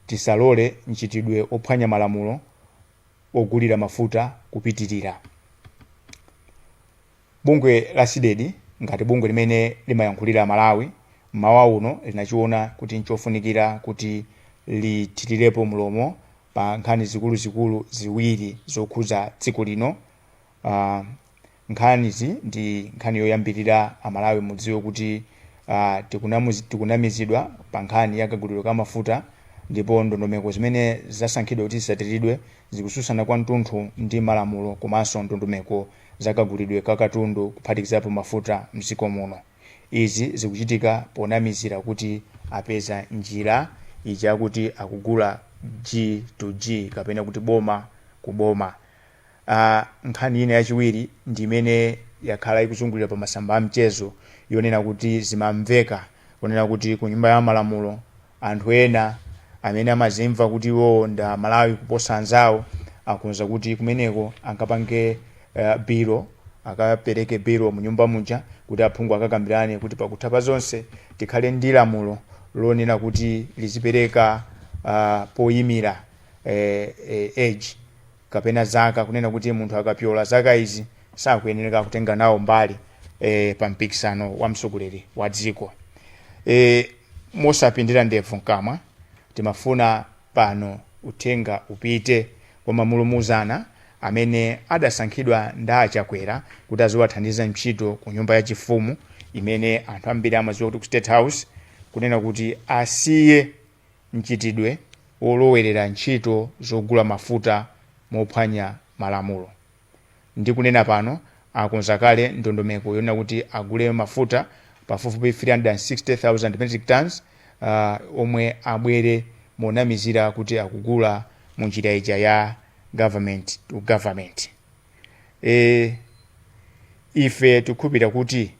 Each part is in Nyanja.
Tisalole mchitidwe ophwanya malamulo ogulira mafuta kupitilira. Bungwe la CDEDI ngati bungwe limene limayankhulira Amalawi mmawa uno linachiona kuti nchofunikira kuti lithilirepo mlomo pa nkhani zikuluzikulu ziwiri zokhudza dziko lino uh, nkhanizi ndi nkhani yoyambirira amalawi mudziwe kuti uh, tikunamuzi- tikunamizidwa pa nkhani ya kagulidwe ka mafuta ndipo ndondomeko zimene zasankhidwa kuti zisatiridwe zikususana kwa mtunthu ndi malamulo komanso ndondomeko za kagulidwe ka katundu kuphatikizapo mafuta mdziko muno izi zikuchitika ponamizira kuti apeza njira ija kuti akugula g to g kapena kuti boma ku boma a Nkhani ina yachiwiri ndi imene yakhala ikuzungulira pa masamba a mchezo yonena kuti zimamveka kunena kuti ku Nyumba ya Malamulo anthu ena amene amazimva kuti iwowo ndi Amalawi kuposa anzawo akonza kuti kumeneko akapange eh, bilo akapereke bilo mu nyumba muja kuti aphungu akakambirane kuti pakutha pa zonse tikhale ndi lamulo lonena kuti lizipereka ah, poyimira eh, eh, age kapena zaka kunena kuti munthu akapyola zaka izi sakuyenereka kutenga nawo mbali e, pa mpikisano wa mtsogoleri wa dziko e, mosapindira ndevu mkamwa timafuna pano uthenga upite kwa mamulumuzana amene adasankhidwa ndi a Chakwera kuti aziwathandiza ntchito ku nyumba ya chifumu imene anthu ambiri amadziwa kuti ku state house kunena kuti asiye mchitidwe wolowerera ntchito zogula mafuta mophwanya malamulo ndi kunena pano akonza kale ndondomeko yonena kuti agule mafuta pafupifupi 360,000 metric tonnes omwe abwere monamizira kuti akugula mu njira ija ya government to government. Ife tikukhulupirira kuti.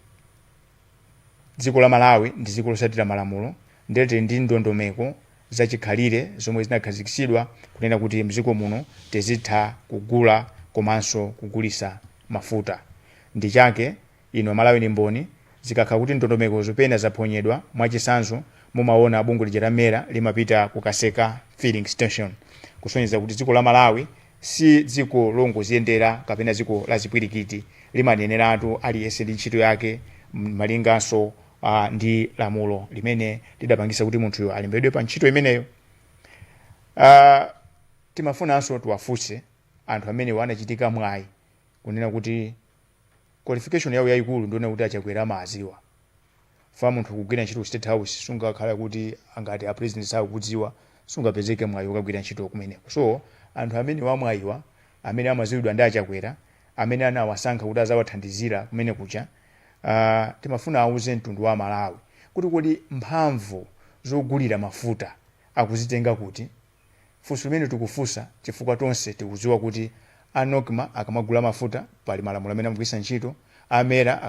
Dziko la Malawi ndi dziko losatira malamulo nde tili ndi ndondomeko zachikhalire zomwe zinakhazikitsidwa kunena kuti mdziko muno tizitha kugula komanso kugulisa mafuta ndi chake inu amalawi ndi mboni zikakhala kuti ndondomekozo pena zaphonyedwa mwachitsanzo mumawona bungwe lija la MERA limapita kukaseka filling station kusonyeza kuti dziko la Malawi Si dziko longoziyendera kapena dziko la zipwirikiti. Limaneneratu aliyense ndi ntchito yake malinganso ndi lamulo limene lidapangitsa kuti munthuyo alembedwe pa ntchito imeneyo. Timafunanso tiwafunse anthu amenewa anachitika mwayi kunena kuti qualification yawo yayikulu ndiyonena kuti a Chakwera amawadziwa. chifukwa munthu kugwira ntchito ku state house sungakhale kuti angati a president sakukudziwa sungapezeke mwayi wokagwira ntchito kumeneko so anthu amene wamwayiwa amene amaziwidwa ndi a Chakwera amene anawasankha kuti azawathandizira kumenekuja uh, timafuna auze mtundu wa malawi kuti kodi mphamvu zogulira mafuta akuzitenga kuti Funso limene tikufunsa chifukwa tonse tikudziwa kuti a Nocma akamagula mafuta pali malamulo amene amagwiritsa ntchito, a MERA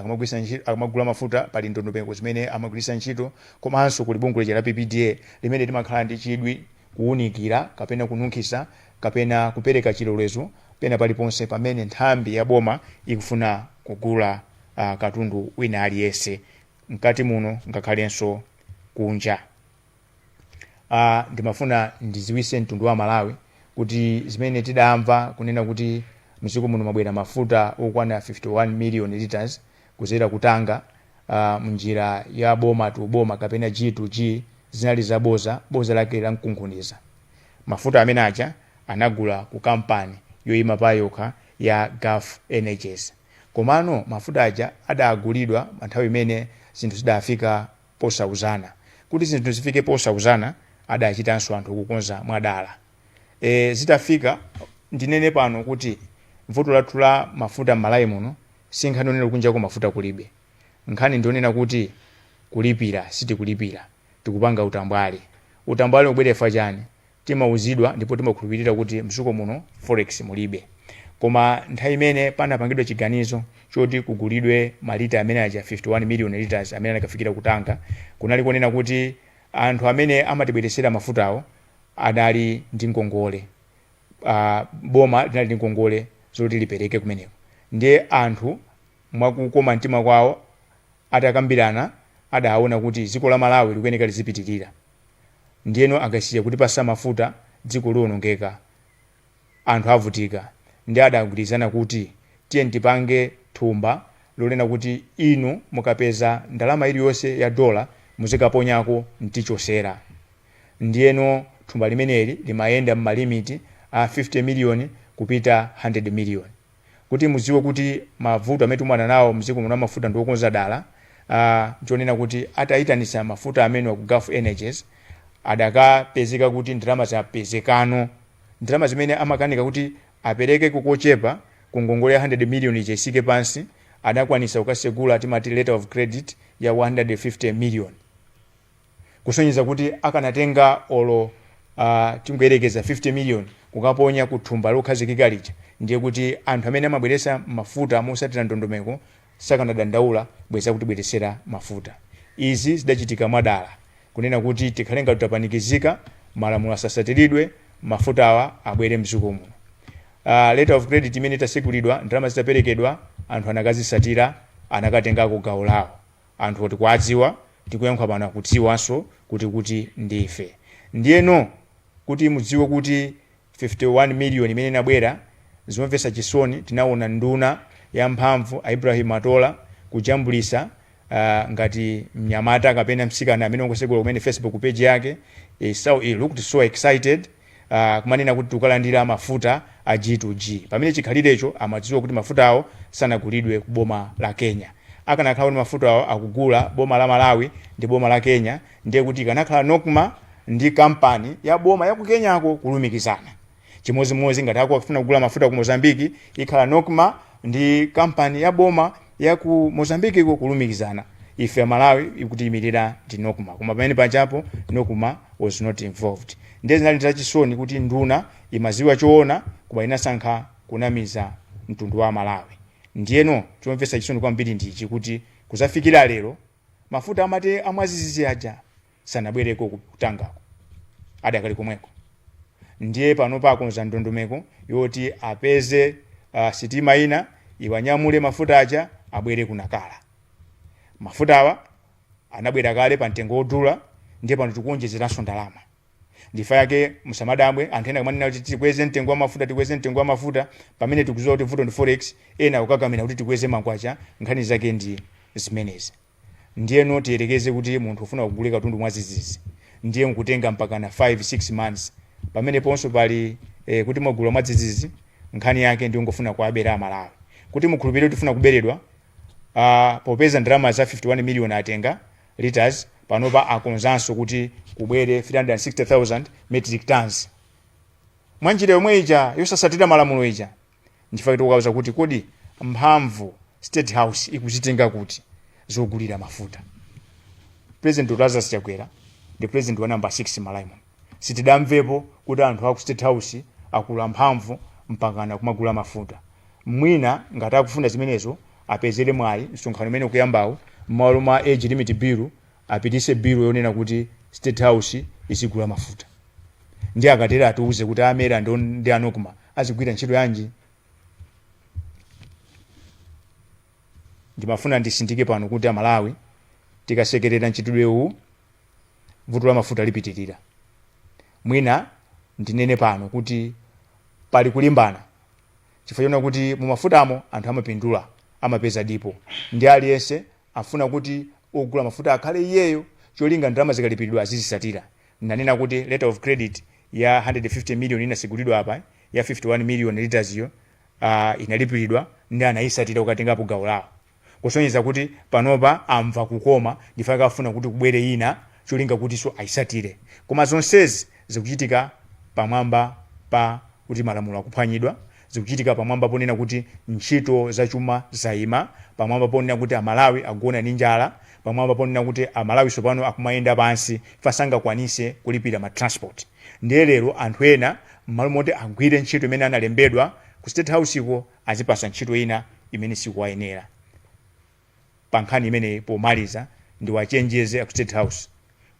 akamagula mafuta pali ndondomeko zimene amagwiritsa ntchito komanso kuli bungwe lija la PPDA limene limakhala ndi chidwi kuunikira kapena kununkhiza kapena kupereka chilolezo pena paliponse pamene nthambi ya boma ikufuna kugula katundu wina aliyense mkati muno ngakhalenso kunja. uh, ndimafuna ndiziwise mtundu wa malawi kuti zimene tidamva kunena kuti mdziko muno mabwera mafuta okwana 51 million liters kuzera ku Tanga uh, mnjira ya boma to boma kapena g to g zinali za boza boza lake la mkunkhuniza mafuta amene aja anagula ku kampani yoyima pa yokha ya gulf energies komano mafuta aja adagulidwa nthawi imene zinthu zidafika posauzana. Kuti zi zinthu zifike posauzana adachitanso anthu kukonza mwadala. E, zitafika ndinene pano kuti vuto lathu la mafuta m'Malawi muno si nkhani yonena kuti kunjako mafuta kulibe. Nkhani ndi yonena kuti kulipira sitikulipira, tikupanga utambwali. Utambwali ukubwera chifukwa chani? Timauzidwa ndipo timakhulupilira kuti mdziko muno forex mulibe. Koma nthawi imene panapangidwa chiganizo choti kugulidwe malita amene aja 51 million litres amene anakafikira ku Tanga, kunali kunena kuti anthu amene amatibweretsera mafutawo adali ndi ngongole. A boma linali ndi ngongole zoti lipereke kumeneko. Ndiye anthu mwa kukoma mtima kwawo atakambirana adaona kuti dziko la Malawi likuyeneka lidzipitilira. ndiyeno akasiya kutipasa mafuta dziko liwonongeka anthu avutika ndiye adagwirizana kuti tiyeni tipange thumba lonena kuti inu mukapeza ndalama iliyonse ya dollar muzikaponyako mtichosera ndiyeno thumba limeneli limayenda mmalimiti a 50 million kupita 100 million. Kuti mudziwe kuti mavuto amene tikumana nawo mdziko muno amafuta ndi okonza dala, nchonena kuti ataitanitsa mafuta amenewa ku Gulf Energies, adakapezeka kuti ndalama zapezekano. Ndalama zimene amakanika kuti aperekeko kochepa ku ngongole ya 100 million ija itsike pansi, adakwanitsa kukatsegula timati letter of credit ya 150 million. kusonyeza kuti akanatenga olo uh, tingoyerekeza 50 million kukaponya ku thumba lokhazikika lija ndiye kuti anthu amene amabweresa mafuta mosatira ndondomeko sakanadandaula bwenzi akutibweresera mafuta izi zidachitika mwadala kunena kuti tikhale ngati tapanikizika malamulo asasatiridwe mafutawa abwere mdziko muno uh, letter of credit imene itasekulidwa ndalama zitaperekedwa anthu anakazisatira anakatengako gawo lawo Anthuwo tikuwadziwa, tikuyankhula pano akudziwanso kuti ndi ife. Ndiyeno kuti mudziwe kuti 51 million imene inabwera, zomvetsa chisoni tinaona nduna ya mphamvu a Ibrahim Matola kujambulitsa uh, ngati mnyamata kapena mtsikana amene wangosegula kumene Facebook page yake. He, so, he looked so excited. a, kumanena kuti tikalandira mafuta a G to G. Pamene chikhalirecho amadziwa kuti mafutawo sanagulidwe ku boma la Kenya. Akanakhala kuti mafutawo akugula boma la Malawi ndi boma la Kenya ndiye kuti ikanakhala Nocma ndi kampani ya boma ya ku Kenyako kulumikizana. Chimodzimodzi ngati akufuna kugula mafuta ku Mozambique ikhala Nocma ndi kampani ya boma ya ku Mozambique iko kulumikizana ife amalawi ikutiimirira ndi nocma koma pamene pajapo nocma was not involved ndiye zinali zachisoni kuti nduna imaziwa choona koma inasankha kunamiza mtundu wa amalawi ndiyeno chomvetsa chisoni kwambiri ndichi kuti kuzafikira lero mafuta amati amwadzidzidzi aja sanabwereko ku Tangako adakali komweko ndiye panopa akonza ndondomeko yoti apeze uh, sitima ina iwanyamule mafuta aja abwere ku nakala mafutawa anabwera kale pa mtengo wodula ndiye pano tikuonjezeranso ndalama nchifukwa chake musamadabwe anthu ena akamanena kuti tikweze mtengo wa mafuta tikweze mtengo wa mafuta pamene tikuziwa kuti vuto ndi forex ena kukakamira kuti tikweze makwacha nkhani zake ndi zimenezi Ndiyeno tiyerekeze kuti munthu ufuna kugula katundu mwadzidzidzi ndiye nkutenga mpakana 5, 6 months. Pameneponso pali eh, kuti mwagula mwadzidzidzi nkhani yake ndiyongofuna kuwabera Amalawi. Kuti mukhulupirire kuti tikufuna kuberedwa, ah, popeza ndalama za 51 million atenga litres, panopa akonzanso kuti kubwere 360,000 metric tonnes. Mwanjira yomwe ija yosasatira malamulo ija. Nchifukwa tikukawuza kuti kodi mphamvu state house ikuzitenga kuti zogulira mafuta. President Dr Lazarus Chakwera ndi president wa number 6 Malawi muno. Sitidamvepo kuti anthu aku state house akula mphamvu mpakana kumagula mafuta. Mwina ngati akufuna zimenezo apezere mwayi msonkhano umene ukuyambawu mmalo mwa age limit bill Apitise bill yonena kuti state house izigula mafuta. Ndiye akatero atiuze kuti a MERA ndi on- ndi a Nocma azigwira ntchito yanji? Ndimafuna ndisindike pano kuti a Malawi tikasekerera mchitidwe uwu vuto la mafuta lipitirira. Mwina ndinene pano kuti pali kulimbana chifukwa chonena kuti mu mafutamo anthu amapindula amapeza dipo ndi aliyense Afuna kuti ogula mafuta akhale iyeyo cholinga ndalama zikalipiridwa azizisatira. Nanena kuti letter of credit ya 150 million inasegulidwa apa, ya 51 million litres yo uh inalipiridwa nde anayisatira kukatengapo gawo lawo. Kusonyeza kuti panopa amva kukoma chifukwa chake afuna kuti kubwere ina cholinga kutiso ayisatire. Koma zonsezi zikuchitika pamwamba pa kuti malamulo akuphwanyidwa. zikuchitika pamwamba ponena kuti ntchito za chuma zaima, pamwamba ponena kuti a Malawi agona ndi njala, pamwamba ponena kuti a Malawi sopano akumayenda pansi chifukwa sangakwanise kulipira ma transport. Ndiye lero anthu ena mmalo moti agwire ntchito imene analembedwa ku state house ko azipasa ntchito ina imene sikuwayenera. pa nkhani imeneyi pomaliza ndiwachenjeze aku state house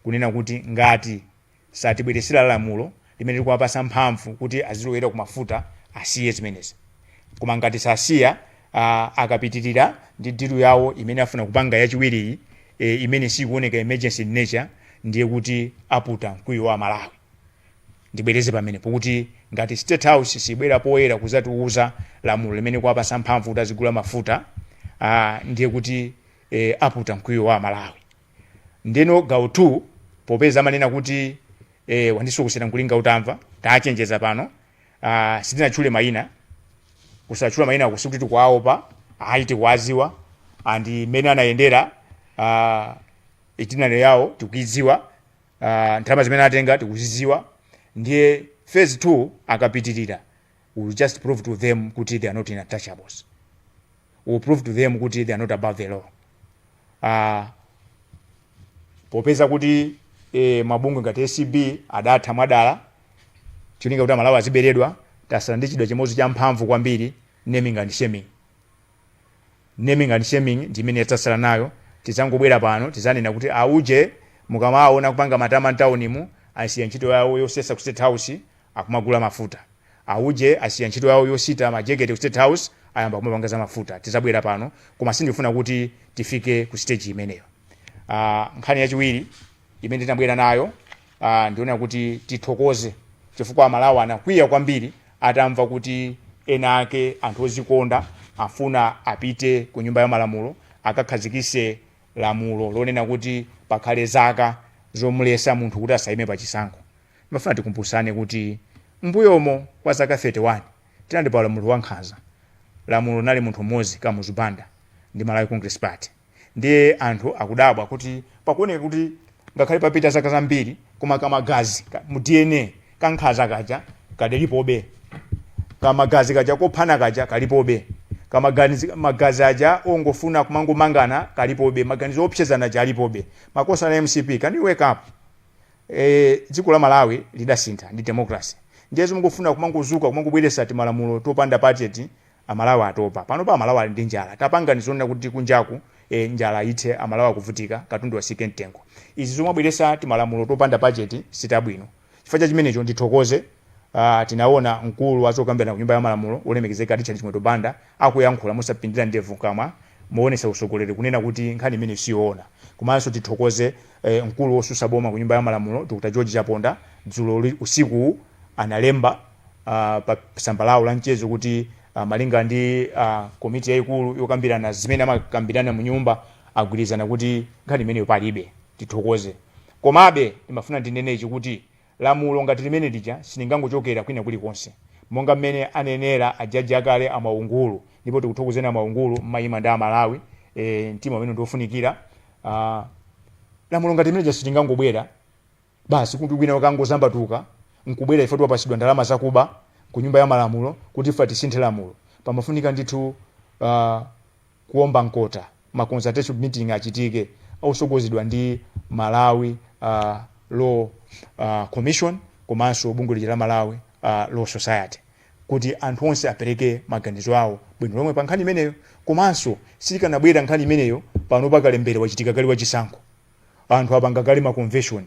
kunena kuti ngati satibweresera lamulo limene likuwapasa mphamvu kuti azilowera ku mafuta asiye zimenezi koma ngati sasiya uh, akapitirira ndi dilu yawo imene afuna kupanga yachiwiriyi e, imene sikuoneka emergency in nature ndiye kuti aputa mkwiyo wa amalawi Ndibwereze pamenepo kuti ngati State House sibwera poyera kuzatiuza lamulo limene likuwapasa mphamvu kuti azigula mafuta aa ndiye kuti ee aputa mkwiyo wa Malawi. Ndeno gawo 2 popeza amanena kuti ee wandisokosera nkulinga utamva tachenjeza pano aa sitinatchule maina kusatchula mainako sikuti tikuwaopa ayi tikuwaziwa and mmene anayendera aa itinerary yawo tikuiziwa uh, ndalama zimene atenga tikuziziwa ndiye phase 2 akapitirira we'll just prove to them kuti they are not untouchables we'll prove to them kuti they are not above the law uh, popeza kuti eh, mabungwe ngati acb adatha mwadala cholinga kuti amalawi aziberedwa tasala ndi chida chimodzi cha mphamvu kwambiri naming and shaming Naming and shaming ndi imene yasala nayo, tizangobwera pano tizanena kuti a uje mukamawaona akupanga matama mtaunimu asiya ntchito yawo yosesa ku state house akumagula mafuta, a uje asiya ntchito yawo yosita majekete ku state house ayamba kumapanga za mafuta, tizabwera pano koma sindikufuna kuti tifike ku stage imeneyo. Aaah nkhani yachiwiri imene tinabwera nayo ah, ndionera kuti tithokoze chifukwa amalawi anakwiya kwambiri atamva kuti ena ake anthu ozikonda afuna apite ku nyumba ya malamulo akakhazikise lamulo lonena kuti pakhale zaka zomulesa munthu kuti asayime pa chisankho ndimafuna tikumbusane kuti mbuyomu kwa zaka 31 tinali pa ulamuliro wankhanza ulamuliro unali munthu mmodzi kamuzu banda ndi malawi congress party ndiye anthu akudabwa kuti pakuoneka kuti ngakhale papita zaka zambiri koma kamagazi ka- mu dna kankhanza kaja kadalipobe kamagazi kaja kophana kaja kalipobe kamagazi magazi aja ongofuna kumangomangana kalipobe maganizo opsezana aja alipobe makosana mcp can you wake up eh, dziko la malawi lidasintha ndi democracy ndiye zomangofuna kumangozuka kumangobweresa timalamulo topanda pachepo Amalawi atopa. Panopa amalawi ali ndi njala. Tapangani zonena kuti kunjaku ee njala ithe amalawi akuvutika katundu asike mtengo. Izi zomabweresa timalamulo topanda pachepo sitabwino. Chifukwa cha chimenecho ndithokoze a tinaona mkulu wa zokambirana kunyumba ya malamulo wolemekezeka Richard Chimwendo Banda akuyankhula mosapindira ndevu mkamwa mowonetsa usogoleri kunena kuti nkhani imeneyo siyoona. Komanso tithokoze e mkulu wosusa boma kunyumba ya malamulo Dr George Chaponda dzulo usikuwu analemba. uh, pa tsamba lawo la mchezo kuti uh, malinga ndi uh, komiti yayikulu yokambirana zimene amakambirana mu nyumba agwirizana kuti nkhani imeneyo palibe tithokoze komabe ndimafuna ndinene ichi kuti lamulo ngati limene lija silingangochokera kwina kulikonse monga mmene anenera a jaji akale a mwaungulu ndipo tikuthokozeni a mwaungulu mumayima ndi amalawi e, mtima umene ndiofunikira uh, lamulo ngati limene lija silingangobwera Basi kuti wina wake angozambatuka nkubwera ife tapatsidwa ndalama zakuba ku nyumba ya malamulo kuti ife tisinthe lamulo. Pamafunika ndithu uh, kuomba mkota ma consultative meeting achitike osogozedwa ndi Malawi uh, Law uh, Commission komanso bungwe lija la Malawi uh, Law Society kuti anthu onse apereke maganizo awo bwino lomwe pa nkhani imeneyo komanso sikanabwera nkhani imeneyo pano pakalembera wachitika kale wachisankho anthu apanga kale ma convention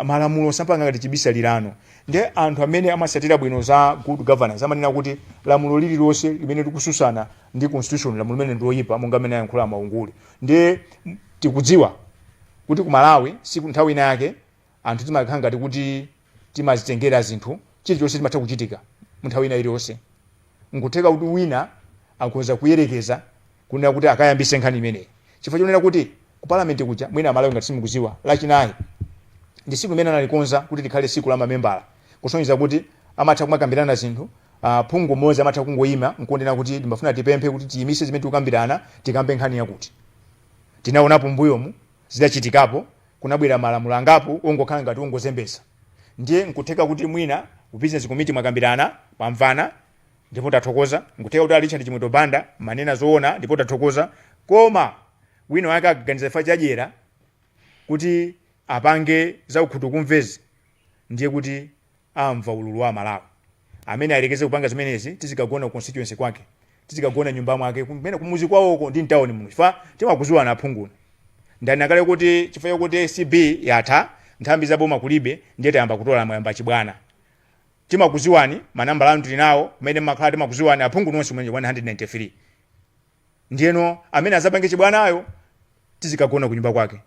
malamulo sapanga ngati chibisalilano nde anthu amene amasatira bwino za good governance amanena kuti lamulo lililonse limene likususana ndi constitution lamulo limene ndiloyipa monga mmene ayankhulira a mwaungulu nde tikudziwa kuti ku malawi kuno nthawi ina yake anthu timakhala ngati kuti Timazitengera zinthu, chilichonse chimatha kuchitika munthawi ina iliyonse. Nkutheka kuti wina akhonza kuyerekeza kunena kuti akayambise nkhani imeneyi chifukwa chonena kuti ku parliament kuja, mwina amalawi ngati simukuziwa, lachinayi ndi siku limene analikonza kuti likhale siku la mamembala kusonyeza kuti amatha kumakambirana zinthu, phungu mmodzi amatha kungoima nkunena kuti ndimafuna tipemphe kuti tiyimitse zimene tikukambirana tikambe nkhani yakuti. Tinaonapo mmbuyomu zidachitikapo kunabwera malamulo angapo ongokhala ngati ongozembetsa ndiye nkutheka kuti mwina ku business committee mwakambirana, mwamvana ndipo tathokoza, nkutheka kuti a Richard Chimwendo Banda manena zoona ndipo tathokoza koma wina wake akaganiza chifukwa cha dyera kuti apange zakukhutukumvezi ndiye kuti amva ululu wa amalawi amene ayelekeze kupanga zimenezi tizikagona ku constituency kwake tizikagona mnyumba mwake kumene kumuzi kwawoko ndi mtawuni muno chifukwa timakuziwani aphunguni ndani akale kuti chifukwa chakuti acb yatha nthambi za boma kulibe ndiye tayamba kutola mwayamba chibwana timakuziwani manambala anu tili nawo kumene mmakhala timakuziwani aphungu nonse mwenye 193 Ndiyeno amene azapange chibwanayo tizikagona kunyumba kwake,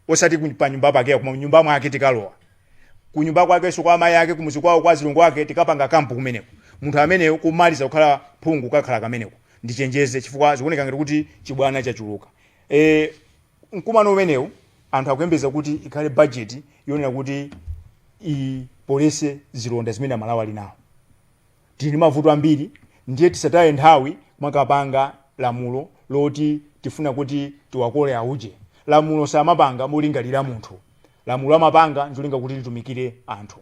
osati ku- pa nyumba pakeya, koma mnyumba mwake tikalowa kunyumba kwakenso kwa amayi ake kumuzi kwawo kwa azilongo ake tikapanga kampu kumeneko munthu ameneyo kumaliza kukhala phungu kakhala kameneko ndichenjeze chifukwa zikuoneka ngati kuti chibwana chachuluka e, mkumano umenewu anthu akuyembeza kuti ikhale bajeti yonena kuti ipolese zilonda zimene amalawi ali nawo Tili ndi mavuto ambiri ndiye tisataye nthawi kumakapanga lamulo loti tifuna kuti tiwakole auje. Lamulo samapanga molingalira munthu. Lamulo amapanga ncholinga kuti litumikire anthu.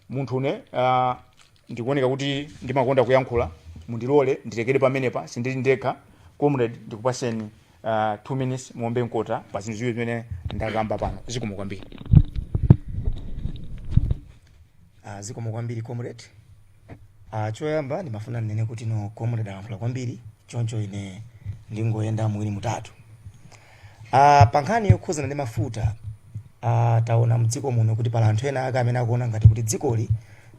Munthu ne uh, ndikuoneka kuti ndimakonda kuyankhula, mundilole ndilekere pamenepa, sindili ndekha. Comrade, ndikupaseni uh, two minutes muombe mkota pa zinthu ziwiri zimene ndakamba pano zikomo kwambiri Ah, zikomo kwambiri comrade Ah, choyamba ndimafuna ndinene kuti no comrade alankhula kwambiri choncho ine ndingoyenda muwiri mutatu Ah, pa nkhani yokhuzana ndi mafuta ah, taona mdziko muno kuti pali anthu ena ake amene akuona ngati kuti dzikoli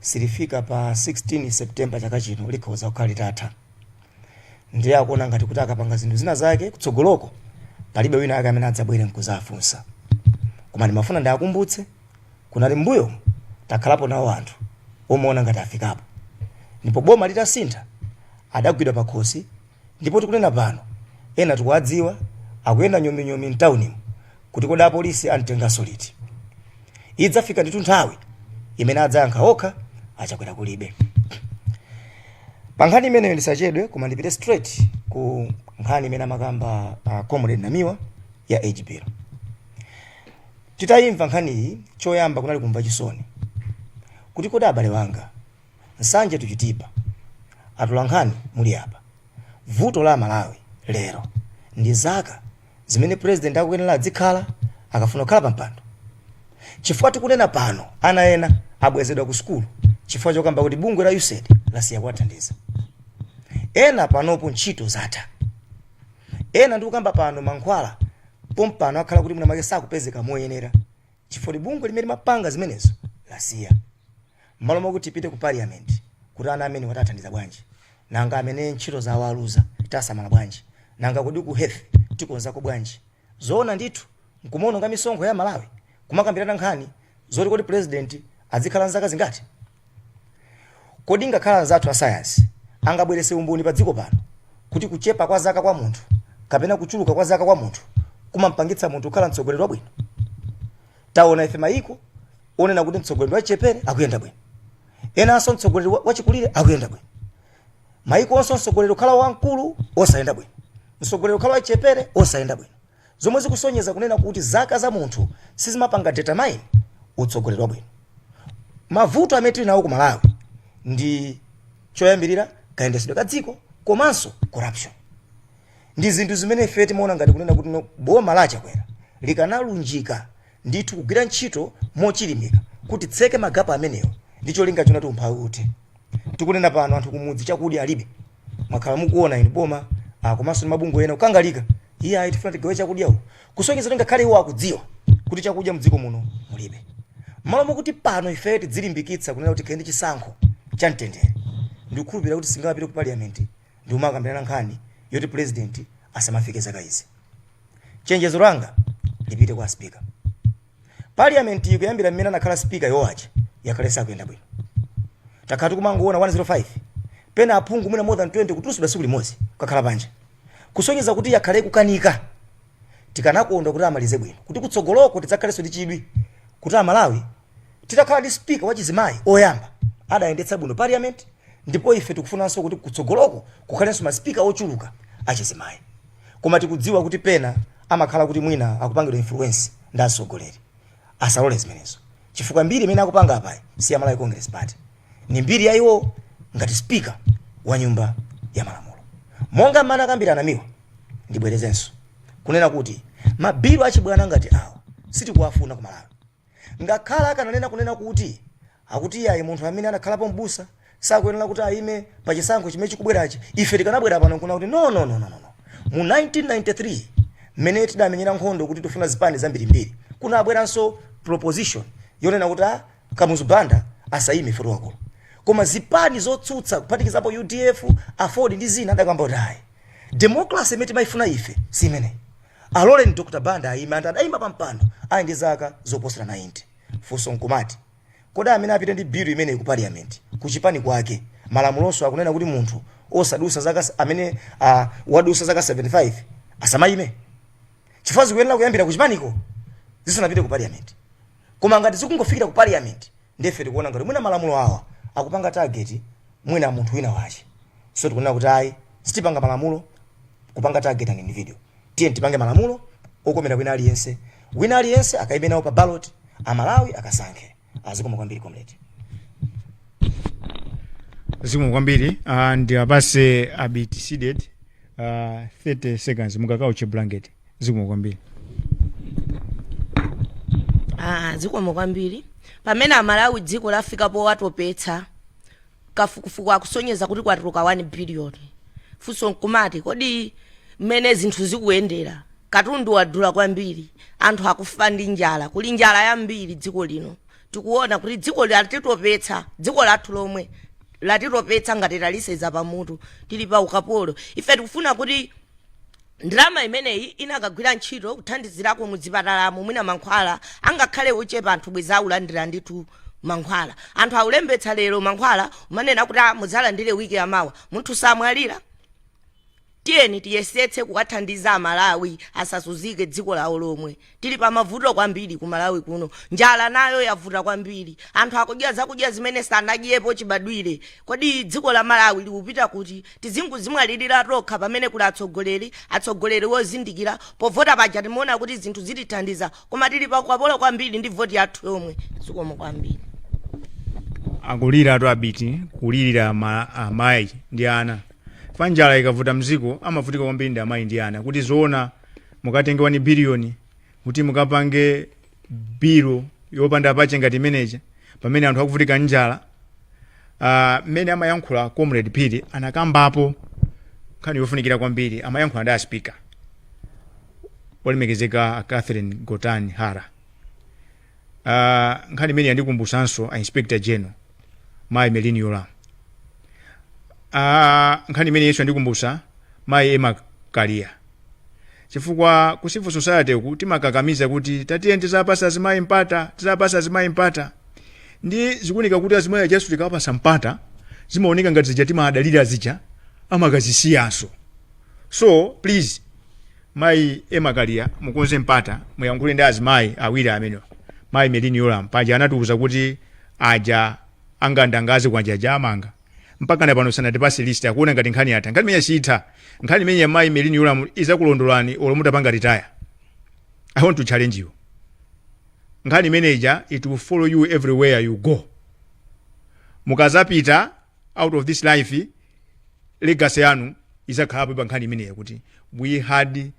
silifika pa 16 september chaka chino likhoza kukhala litatha ndiye akuona ngati kuti akapanga zinthu zina zake kutsogoloko palibe wina ake amene adzabwere nkuzafunsa koma ndimafuna ndiakumbutse kuti mmbuyomu takhalapo nawo anthu omaona ngati afikapo ndipo boma litasintha adagwidwa pakhosi ndipo tikunena pano ena tikuwadziwa akuyenda nyominyomi mtaunimu kuti kodi apolisi amtenganso liti idzafika ndithu nthawi imene adzayankha okha achakwera kulibe pa nkhani imeneyo ndisachedwe koma ndipite straight ku nkhani imene amakamba uh, comrade namiwa ya hbl titayimva nkhaniyi choyamba kunali kumva chisoni kuti kodi abale anga nsanje tuchitipa atula nkhani muli apa vuto la malawi lero ndi zaka zimene president akuyenera adzikhala akafuna kukhala pa mpando chifukwa tikunena pano ana ena abwezedwa ku sukulu chifukwa chokamba kuti bungwe la usaid lasiya kuwathandiza ena panopo ntchito zatha ena ndikukamba pano mankhwala pompano akhala kuti mwina mwake sakupezeka moyenera chifukwa bungwe limene limapanga zimenezo lasiya mmalo moti tipite ku parliament kuti ana amene watathandiza bwanji nanga amene ntchito zawo aluza tasamala bwanji nanga kodi ku health tikonzako bwanji zoona ndithu nkumaononga misonkho ya malawi kumakambirana nkhani zoti kodi president azikhala nzaka zingati kodi ngakhale anzathu asayansi angabwerese umboni pa dziko pano kuti kuchepa kwa zaka kwa munthu kapena kuchuluka kwa zaka kwa munthu kumampangitsa munthu kukhala mtsogoleri wabwino taona ife mayiko onena kuti mtsogoleri wachichepere akuyenda bwino enanso mtsogoleri wa- wachikulire akuyenda bwino mayiko enanso mtsogoleri ukhala wamkulu osayenda bwino mtsogoleri ukhala wachichepere osayenda bwino zomwe zikusonyeza kunena kuti zaka za munthu sizimapanga determine utsogoleri wabwino mavuto amene tili nawo ku malawi ndi choyambirira kayendesedwe ka dziko komanso corruption ndi zinthu zimene ife timaona ngati kunena kuti boma la chakwera likanalunjika ndithu kugwira ntchito mochilimika kuti litseke magapo amenewo ndi cholinga chonena kuti umphawi uthe tikunena pano anthu kumudzi chakudya alibe mwakhala mukuona inu boma ah, komanso ndi mabungwe ena kukangalika iyayi tifuna tigawe chakudya uku kusonyeza kuti ngakhale iwo akudziwa kuti chakudya mdziko muno mulibe mmalo mokuti pano ifeyo tidzilimbikitsa kunena kuti tikayende chisankho cha mtendere ndikukhulupirira kuti singapite ku parliament ndi kumakambirana nkhani yoti president asamafike zaka izi chenjezo langa lipite kwa speaker parliament ikuyambira mmene anakhala speaker yowacha yakhala isakuyenda bwino takhala tikumangoona 105 pena aphungu mwina more than 20 kutulutsidwa tsiku limodzi kukakhala panja kusonyeza kuti yakhala ikukanika tikanakonda kuti amalize bwino kuti kutsogoloko tidzakhalenso ndi chidwi kuti amalawi titakhala ndi speaker wachizimayi oyamba adayendetsa bwino parliament ndipo ife tikufunanso kuti kutsogoloko kukhalenso maspika ochuluka achizimayi koma tikudziwa kuti pena amakhala kuti mwina akupangidwa influence ndi atsogoleri asalole zimenezo chifukwa mbiri imene akupanga apayi si ya malawi congress party ni mbiri ya iwo ngati speaker wa nyumba ya malamulo monga mmene akambira a namiwa ndibwerezenso kunena kuti mabilu achibwana ngati awa sitikuwafuna ku malawi Ngakhale akananena kunena kuti, akuti iyayi munthu amene anakhalapo m'busa sakuyenera kuti ayime pa chisankho chimene chikubwerachi, ife tikanabwera pano n'kunena kuti no, no, no, no, no, no. Mu 1993 mmene tidamenyera nkhondo kuti tifuna zipani zambirimbiri, kunabweranso proposition yonena kuti a Kamuzu Banda asayime poti ndi wamkulu. Koma zipani zotsutsa kuphatikizapo udf, aford ndi zina adakamba kuti ayi, democracy imene timayifuna ife si imeneyi. Aloleni Dr Banda ayime adayima pa mpando ali ndi zaka zoposera 90. Funso nkumati, kodi amene apite ndi bill imeneyi ku parliament ku chipani kwake malamulonso akunena kuti munthu osadusa zaka amene wadusa zaka 75 asamayime? Chifukwa zikuyenera kuyambira ku chipaniko zisanapite ku parliament. Koma ngati zikungofikira ku parliament ndiye ife tikuona ngati mwina malamulo awa akupanga target mwina munthu wina wache so tikunena kuti ayi sitipanga malamulo kupanga target an individual tiye tipange malamulo okomera wina aliyense wina aliyense akaime nawo pa ballot amalawi akasankhe zikomo kwambiri comrade zikomo kwambiri uh, ndiwapase abiti Seeded uh, 30 seconds mukakauche blanket zikomo kwambiri Ah, zikomo kwambiri pamene amalawi dziko lafika potitopetsa kafukufuku akusonyeza kuti kwatuluka 1 biliyoni funso nkumati kodi mmene zinthu zikuyendera katundu wadula kwambiri anthu akufa ndi njala kuli njala yambiri dziko lino tikuona kuti dziko latitopetsa dziko lathu lomwe latitopetsa ngati taliseza pamutu tili pa ukapolo ife tikufuna kuti Ndalama imeneyi inakagwira ntchito kuthandizirako mu zipatalamu mwina mankhwala angakhale ochepa anthu bwezi aulandira ndithu mankhwala. Anthu aulembetsa lero mankhwala umanena kuti ah muzalandire week ya mawa. Munthu samwalira. Tiyeni tiyesetse kuwathandiza a Malawi asazunzike dziko lawo lomwe. Tili pamavuto kwambiri ku Malawi kuno. Njala nayo yavuta kwambiri. Anthu akudya zakudya zimene sanadyepo chibadwire. Kodi dziko la Malawi likupita kuti? Tizingodzimwalilira tokha pamene kuli atsogoleri, atsogoleri wozindikira. Povota paja timaona kuti zinthu zitithandiza koma tili pa ukapolo kwambiri ndi voti yathu yomwe. Zikomo kwambiri. Akuliratu abiti kulirira ama, amayi ndi ana pa njala ikavuta mziko amavutika kwambiri ndi amayi ndi ana kuti zoona mukatenge 1 billion kuti mukapange bill yopanda pake ngati imeneja pamene anthu akuvutika ndi njala ah, mmene amayankhula comrade Phiri anakambapo nkhani yofunikira kwambiri amayankhula ndi aspika olemekezeka a catherine gotani hara Ah, nkhani imene yandikumbusanso a inspector general mayi Merlyne Yolamu Ah, nkhani imeneyinso yandikumbusa mayi Emma Kaliya chifukwa ku civil society uku timakakamiza kuti tatiyeni tizapasa azimayi mpata tizapasa azimayi mpata ndi zikuoneka kuti azimayi ajanso tikawapasa mpata zimaoneka ngati zija timadalira zija amakazisiyanso so please Mayi Emma Kaliya mukonze mpata muyankhule ndi azimayi awiri amenewa. Mayi Merlyne Yolamu paja anatiuza kuti aja a ngandanga zikwanje aja amanga. Mpakana pano sanatipase list akuona ngati nkhani yatha. Nkhani imeneyi siitha. Nkhani imeneyi ya mayi Merlyne Yolamu izakulondolani olo mutapanga retire. I want to challenge you. Nkhani imene ija it will follow you everywhere you go. Mukazapita out of this life legacy yanu izakhalapo pa nkhani imeneyo kuti we had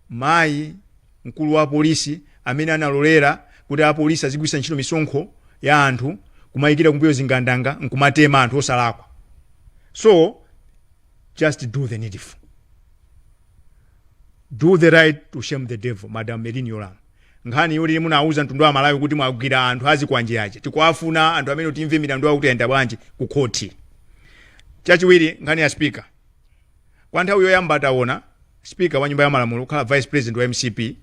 mayi mkulu wa polisi amene analolera kuti apolisi azigwiritsa ntchito misonkho ya anthu kumayikira kumbuyo zingandanga nkumatema anthu osalakwa so just do the needful do the right to shame the devil madam merlyne yolamu Nkhani yoti munauza mtundu wa amalawi kuti mwagwira anthu azikwanje aja tikuwafuna anthu amenewo timve milandu yawo kuti yayenda bwanji ku khothi. Chachiwiri nkhani ya speaker. Kwa nthawi yoyamba tawona speaker wa nyumba ya malamulo kukhala vice president wa mcp.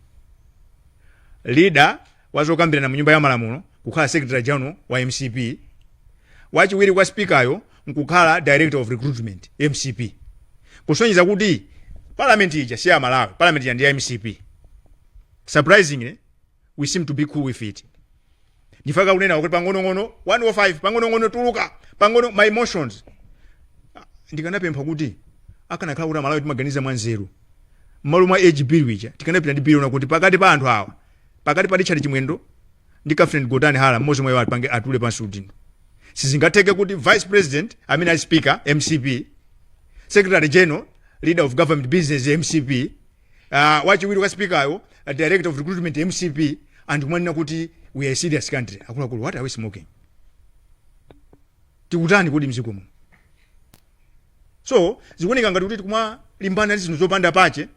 Leader wa zokambirana mu nyumba ya malamulo kukhala secretary general wa mcp. Wachiwiri kwa speaker yo nkukhala director of recruitment mcp. Kusonyeza kuti parliament ija si ya amalawi, parliament ija ndi ya mcp. surprisingly we seem to be cool with it ndifuna kunena kuti pang'onong'ono 105 pang'onong'ono tuluka pang'ono my emotions ndikanapempha kuti akanakhala kuti amalawi timaganiza mwanzeru mmalo mwa age bill wija tikanapita ndi bill kuti pakati pa anthu awa pakati pa richard chimwendo ndi catherine gotani hara mmodzi mwa iwo apange atule pansi udindo sizingatheke kuti vice president amene ali speaker mcp secretary general leader of government business mcp uh, wachiwiri kwa speakeryo uh, director of recruitment mcp anthu kumanena kuti we are a serious country akuluakulu what are we smoking tikutani kodi mziko muno so zikuoneka ngati kuti tikumalimbana ndi zinthu zopanda pache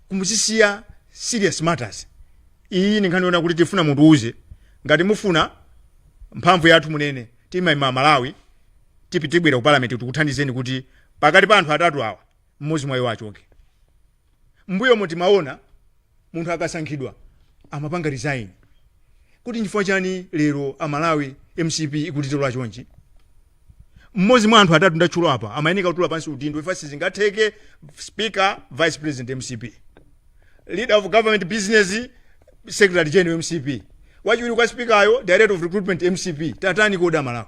kumazisiya serious matters iyi ndi nkhani yonena kuti tifuna mutiuze ngati mufuna mphamvu yathu munene timeme amalawi tipite tibwere ku parliament tikuthandizeni kuti pakati pa anthu atatu awa mmodzi mwa iwo achoke. M'mbuyomu timaona munthu akasankhidwa amapanga resign. Kodi nchifukwa chani lero a Malawi mcp ikutitola chonchi? Mmodzi mwa anthu atatu ndatchula apa amayeneka kutula pansi udindo chifukwa sizingatheke speaker, vice president mcp, leader of government business, secretary general mcp, wachiwiri kwa speaker yo, director of recruitment mcp. Tatani kodi a Malawi?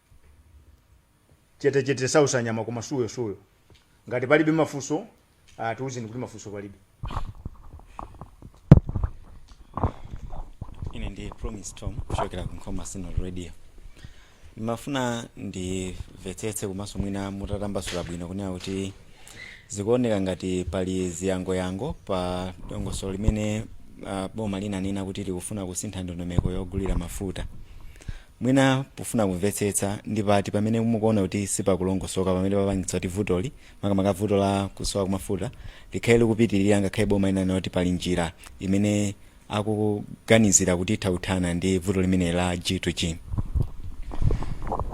chetechete sausa nyama koma suyo suyo ngati palibe mafunso ah, tiuzeni kuti mafunso palibe ine ndi promise tom kuchokera ku nkhoma synod radio ndimafuna ndimvetsetse komanso mwina mutatambasula bwino kunena kuti zikuoneka ngati pali ziyangoyango pa dongosolo limene uh, boma linanena kuti likufuna kusintha ndondomeko yogulira mafuta Mwina pofuna kumvetsetsa ndi pati pamene mukuona kuti sipakulongosoka pamene papangitsa kuti vutoli, makamaka vuto la kusowa kwa mafuta, likhale likupitilira ngakhale boma linanena kuti pali njira imene akuganizira kuti itha kuthana ndi vuto limeneli la G-to-G?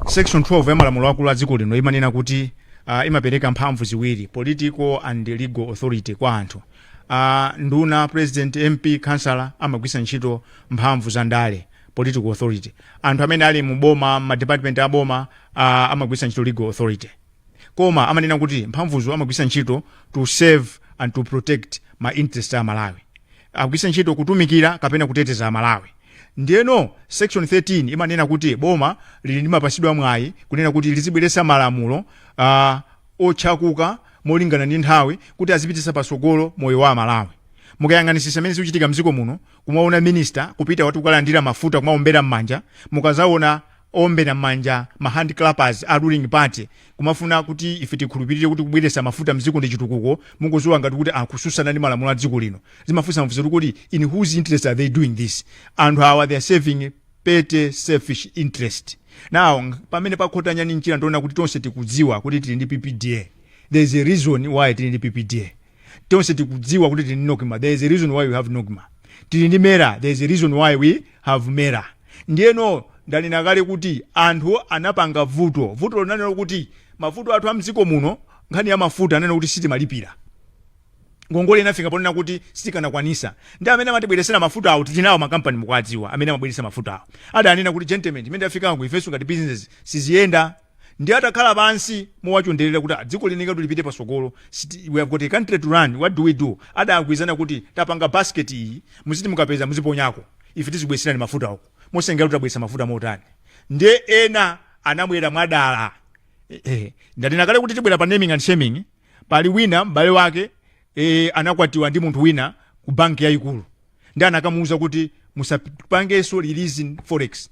Section 12 ya malamulo akulu a dziko lino imanena kuti aah imapereka mphamvu ziwiri, political and legal authority, kwa anthu. aah Nduna, President, MP, Councillor amagwiritsa ntchito mphamvu za ndale. political authority anthu amene ali mu boma ma department a boma uh, amagwiritsa ntchito legal authority koma amanena kuti mphamvuzo amagwiritsa ntchito to serve and to protect ma interest a malawi akugwiritsa ntchito kutumikira kapena kuteteza amalawi ndiyeno section 13 imanena kuti boma lili ndi mapasidwa mwayi kunena kuti lizibweretsa malamulo uh, otchakuka molingana ndi nthawi kuti azipititsa patsogolo moyo wa amalawi mukayang'anisisa mmene zikuchitika mdziko muno kumaona minister kupita wati kukalandira mafuta kumaombera m'manja mukazaona oombera m'manja ma hand clappers a ruling party kumafuna kuti ife tikhulupirire kuti kubweretsa mafuta mdziko ndi chitukuko mukuziwa ngati kuti akususana ndi malamulo a dziko lino zimafunsa mafunso kuti kodi in whose interest are they doing this anthu awa they are serving petty selfish interest now ng- pamene pakhota nyani mchira ndiona kuti tonse tikudziwa kuti tili ndi ppda there is a reason why tili ndi ppda tonse tikudziwa kuti tili ndi nocma there is a reason why we have nocma tili ndi mera there is a reason why we have mera ndiyeno ndanena kale kuti anthu anapanga vuto vuto lonanena lokuti mavuto athu a mdziko muno nkhani ya mafuta anena kuti sitimalipira ngongole inafika ponena kuti sitikanakwanisa ndi amene amatibweresera mafuta awo tili nawo makampani mukuwadziwa amene amabweretsa mafuta awo adanena kuti gentlemen pamene tafikapo ifenso ngati business siziyenda ndiye atakhala pansi mowachonderera kuti dziko liyenekeratu lipite patsogolo, we have got a country to run, what do we do? Adagwirizana kuti tapanga basket iyi, muziti mukapeza muziponyako, ife tizikubweretserani mafutawo. Mosatengera kuti tabweretsa mafuta motani. Ndiye ena anabwera mwadala. Eh, ndanena kale kuti tibwera pa naming and shaming, pali wina m'bale wake eh, anakwatiwa ndi munthu wina ku banki yayikulu ndi anakamuuza kuti musapangenso releasing forex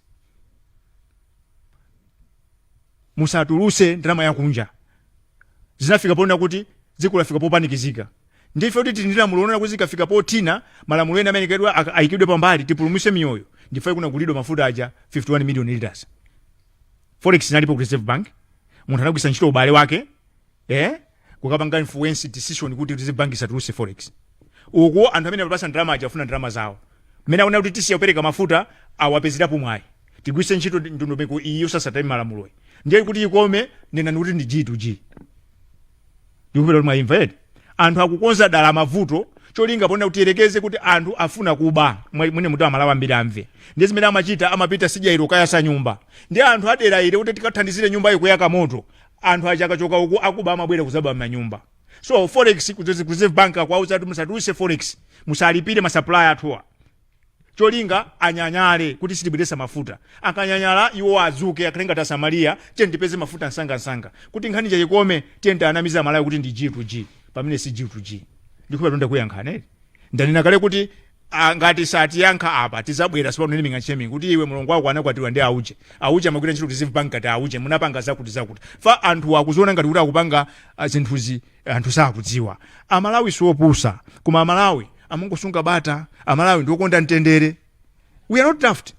musatuluse ndalama yakunja zinafika ponena kuti dziko lafika popanikizika ndife kuti tili ndi lamulo lonena kuti zikafika pothina malamulo ena amene kedwa aka- ayikidwe pambali tipulumuse miyoyo ndife kunagulidwa mafuta aja 51 million liters forex inalipo ku reserve bank munthu anagwisa ntchito ubale wake eh kukapanga influence decision kuti reserve bank isatuluse forex uku anthu amene apasa ndalama aja afuna ndalama zawo mmene akuona kuti tisiya kupereka mafuta awapezerapo mwayi tigwiritse ntchito ndondomeko iyi yosasata malamuloyi ndiye kuti ikome nenani kuti ndi g to g ndikhulupira kuti mwayimva eti anthu akukonza dala mavuto cholinga ponena kuti tiyerekeze kuti anthu afuna kuba Mwe- mwina kuti amalawi ambiri amve ndiye zimene amachita amapita sidya ilo kayasa nyumba ndiye anthu adera ili kuti tikathandizire nyumba ikuyaka moto anthu aja akachoka uku akuba amabwera kuzaba m'manyumba so forex kudzezi- ku reserve bank akuwauza kuti musatuluse forex musalipire masupplier athuwa cholinga anyanyale kuti sitibweresa mafuta akanyanyala iwo adzuke akhale ngati asamariya tiye tipeze mafuta msangamsanga kuti nkhani ija ikome tiye tianamize amalawi kuti ndi g to g pamene si g to g ndikhulupira kuti ndakuyankhani eti ndanena kale kuti Ah, ngati satiyankha apa tizabwera sopano naming and shaming kuti iwe mulongo wako anakwatiwa ndi auje auje amagwira ntchito reserve bank ngati auje munapanga zakuti zakuti fa anthu akuziona ngati kuti akupanga ah, zinthuzi anthu sakudziwa amalawi siopusa koma amalawi amangosunga bata amalawi ndiokonda mtendere we are not daft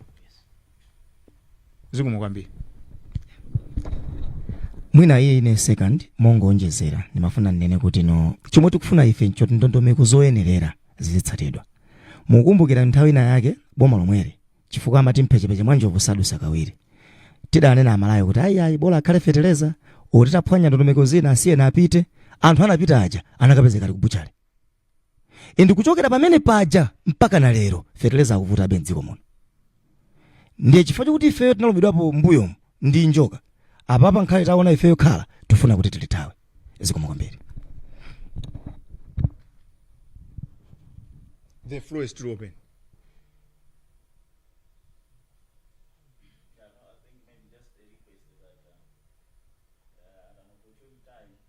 zikomo kwambiri mwina iye in a second mongoonjezera ndimafuna ndinene kuti no chomwe tikufuna ife nchoti ndondomeko zoyenerera zizitsatidwa mukumbukira nthawi ina yake boma lomweli chifukwa amati mphechepeche mwa njovu sadusa kawiri tidanena amalawi kuti ayi ayi bola akhale fetereza olo titaphwanya ndondomeko zina asiyeni apite anthu anapita aja anakapezeka ali kubuchale ende kuchokera pamene paja mpaka na lero feteleza akuvutabe mdziko muno ndiye chifukwa chokuti ifeyo tinalumidwapo mbuyo ndi njoka apapa nkhale taona ifeyo khala tifuna kuti tilithawe zikomo kwambiri The floor is still open.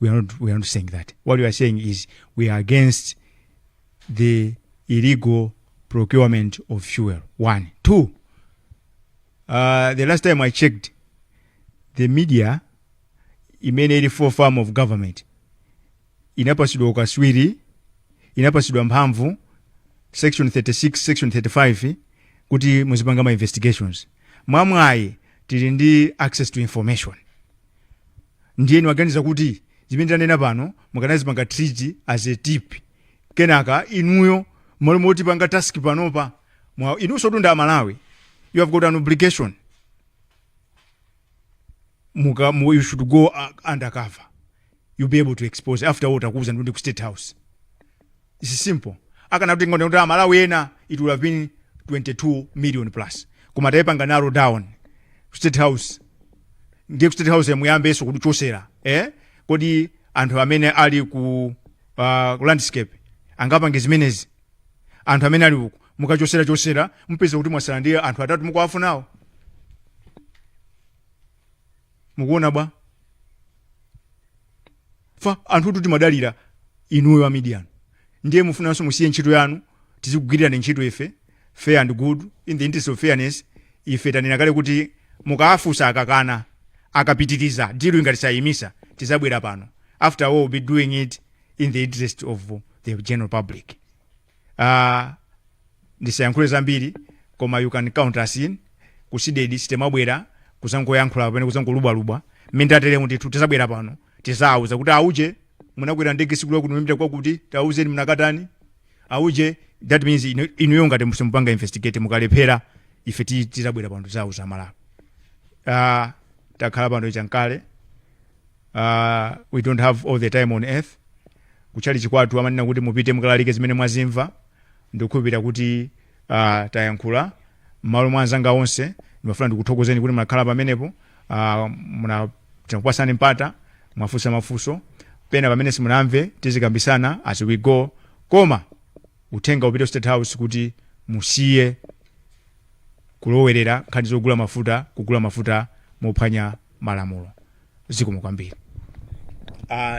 we are not, we are not saying that. What we are saying is we are against the illegal procurement of fuel. One. Two, uh, the last time I checked, the media imene ili for farm of government inapasidwa ukaswiri inapasidwa mphamvu section 36 section 35 kuti muzipanga ma investigations mwamwayi tili ndi access to information ndiye nimaganiza kuti zimene tanena pano mukanazipanga treat as a tip kenaka inuyo mmalo motipanga task panopa mwa- inunso mtundu wa amalawi you have got an obligation muka mu, you should go uh, undercover you'll be able to expose after all takuuza ndi ku state house it's simple akanatenga kuti ndi amalawi ena it would have been 22 million plus koma tayipanga narrow down ku state house ndiye ku state house muyambenso kuchosera eh kodi anthu amene ali ku uh, ku landscape angapange zimenezi anthu amene ali uku mukachosera chosera mupeza kuti mwasala ndi anthu atatu mukuwafunawo mukuona bwa ife anthutu timadalira inuyo a media ndiye mufunanso musiye ntchito yanu tizikugwirirani ntchito ife fair and good in the interest of fairness ife tanena kale kuti mukaafusa akakana akapitiriza diluyi ngati sayimisa tizabwera pano after all we'll be doing it in the interest of the general public uh, ndisayankhule zambiri koma you can count us in ku cdedi sitimabwera kuzangoyankhula kapena kuzangolubwalubwa mmene tateremu ndithu tizabwera pano tizawuza kuti auje munakwera ndege siku lakuti mumapita kwakuti tauzeni munakatani auje that means inu- inuyo ngati musimupanga investigate mukalephera ife ti- tizabwera pano tizawuza malawi uh, takhala pano nchankale uh, we don't have all the time on earth kutchalichi kwathu amanena kuti mupite mukalalike zimene mwazimva ndikukhulupirira kuti uh, tayankhula mmalo mwa anzanga onse ndimafuna ndikuthokozeni kuti munakhala pamenepo uh, muna tinakupasani mpata mwafunsa mafunso pena pamene simunamve tizikambisana as we go koma uthenga upite ku state house kuti musiye kulowerera nkhani zogula mafuta kugula mafuta mophwanya malamulo zikomo kwambiri uh,